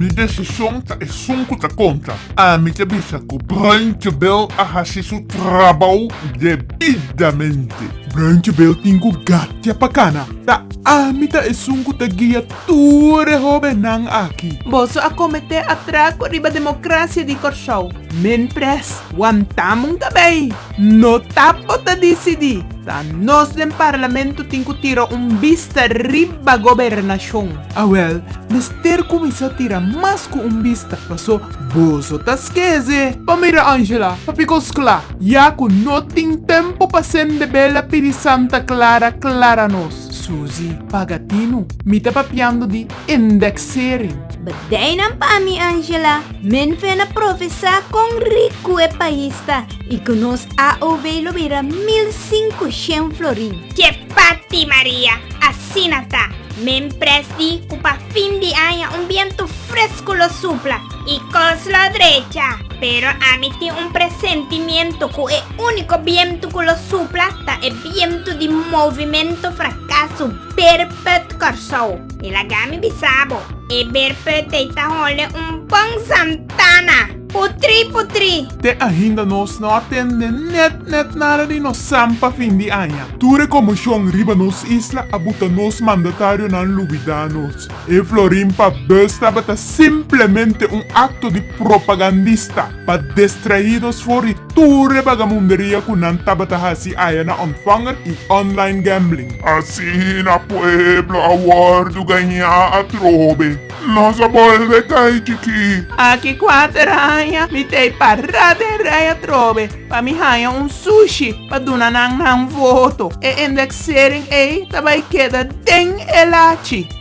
Mi desishon ta esun ku ta konta. Ami ta bisa ku Bruinchebel a hasi su trabou debidamente. Bruinchebel tin ku gacha pa kana. Ta ami ta esun ku ta guia tur e hóbennan aki. Boso a kometé atrako riba demokrasia di Kòrsou. Minpres, wantá m'un kabei! No ta bo ta disidí! Ta nos den Parlamento tin cu tira un bista riba gobernacion. Awel, mester cuminsa tira mas cu un bista, paso boso ta skeze. Pa mi ta Angela, papi con Scla, ya cu no tin tempo pa sende bela pidi Santa Clara clara nos. Suzy, paga ti nu. Mi ta papiando di indexering. Bdij nan pa mi Angela. Min fena profesa con ricu e pais ta. Y cu nos AOV lo bira mil sinku shen florin. Ke pa ti Maria, asina ta. Men pres di cu pa fin di aña un bientu frescu lo supla y cos lo drecha. Pero ami tin un presentimiento cu e unico bientu cu lo supla ta e bientu di Movimento Fracaso Beerput Corsou. Y laga mi bisa bo, e beerput ey ta hole un bon Santana! Putri putri! Te ainda nos no a tende net net nada di nos san pa fin di aña. Tur e komoshon riba nos isla a buta nos mandatarionan lubidá nos. E florin pa bes tabata simplemente un akto di propagandista pa destraí nos for di tur e bagamunderia ku nan tabata hasi aya na Ontvanger i online gambling. Asina pueblo a wòrdu gañá atrobe. Nos a bolbe tai chikí. Aki kuater aña mi t'ei pará den rei atrobe pa mi haña un sushi pa duna nan nan voto. E indeksering ei ta bai keda den e lachi.